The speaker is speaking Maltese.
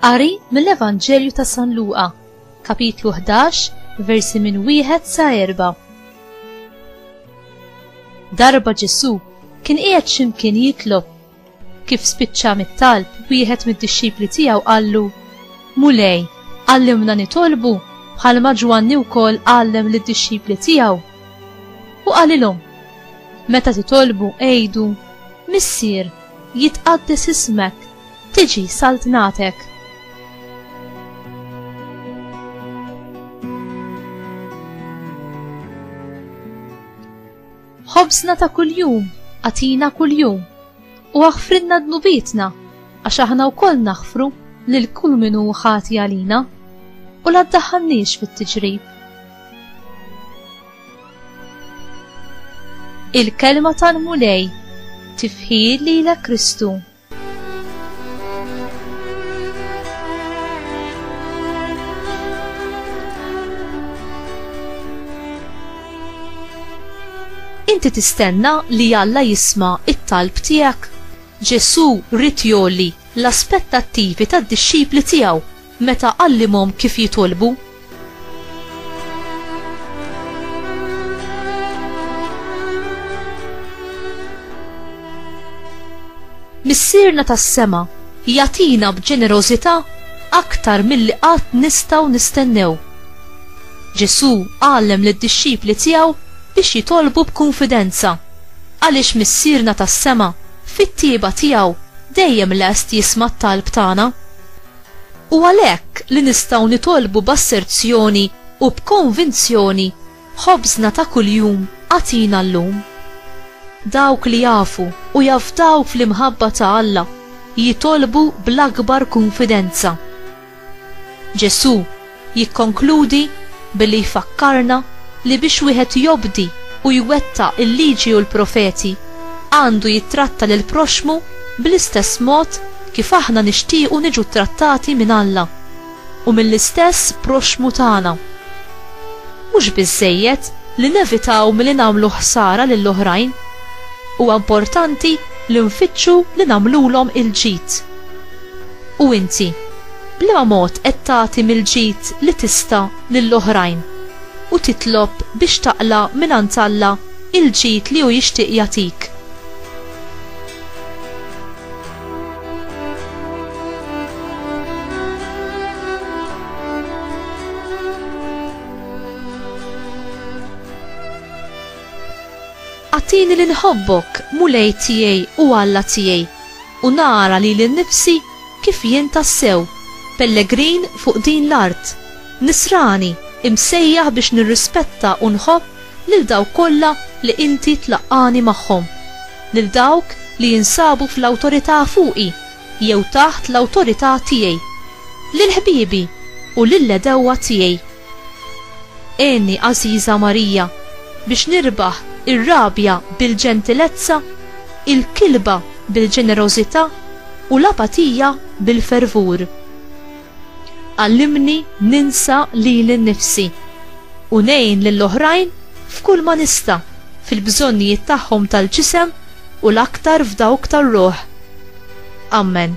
Qari mill-Evanġelju ta' San Luqa, kapitlu 11, versi minn wieħed sa erba'. Darba Ġesu kien qiegħed x'imkien jitlob Kif spiċċa mit-talb, wieħed mid-dixxipli tiegħu qallu, Mulej, għallimna nitolbu bħalma Ġwanni wkoll għallem lid-dixxipli tiegħu. U qalilhom, Meta titolbu għidu, Missier, jitqaddes ismek, tiġi saltnatek. Ħobżna ta' kuljum agħtina kuljum, u aħfrilna dnubietna, għax aħna wkoll naħfru lil kull min hu ħati għalina, u la ddaħħalniex fit-tiġrib. Il-kelma tal-Mulej tifħir lilek Kristu. Inti tistenna li Alla jisma' t-talb tiegħek? Ġesù ried jgħolli l-aspettattivi tad-dixxipli tiegħu Meta għallimhom kif jitolbu. Missierna tas-sema jagħtina b'ġenerożità aktar milli qatt nistgħu nistennew. Ġesù għallem lid-dixxipli tiegħu biex jitolbu b'kunfidenza għaliex Missierna tas-sema fit-tieba tiegħu dejjem lest jisma' t-talb tagħna. U għalhekk li nistgħu nitolbu b'asserzjoni u b'konvinzjoni, Ħobżna ta' kuljum agħtina llum. Dawk li jafu u jafdaw fl-imħabba ta' Alla jitolbu bl-akbar kunfidenza. Ġesù Jikkonkludi billi jfakkarna li biex wieħed jobdi u jwettaq il-Liġi u l-Profeti, għandu jittratta lill-proxxmu bl-istess mod kif aħna nixtiequ niġu ttrattati minn Alla u mill-istess proxxmu tagħna. Mhux biżżejjed li nevitaw milli nagħmlu ħsara lil oħrajn, huwa importanti li nfittxu li nagħmlulhom il-ġid. U inti, b'liema mod qed tagħti mill-ġid li tista' lill-oħrajn u titlob biex taqla' mingħand Alla l-ġid li hu jixtieq jagħtik? Agħtini li nħobbok, Mulej tiegħi u Alla tiegħi, u nara lili nnifsi kif jien tassew pellegrin fuq din l-art, nisrani imsejjaħ biex nirrispetta u nħobb lil dawk kollha li Inti tlaqqagħni magħhom, lil dawk li jinsabu fl-awtorità fuqi jew taħt l-awtorità tiegħi, lil ħbiebi u lill-għedewwa tiegħi. Għenni, għażiża Marija, biex nirbaħ ir-rabja bil-ġentilezza, il-kilba bil-ġenerożità u l-apatija bil-fervur. Għallimni ninsa lili nnifsi u ngħin lill-oħrajn f'kull ma nista' fil-bżonnijiet tagħhom tal-ġisem u l-aktar f'dawk tar-ruħ. Ammen.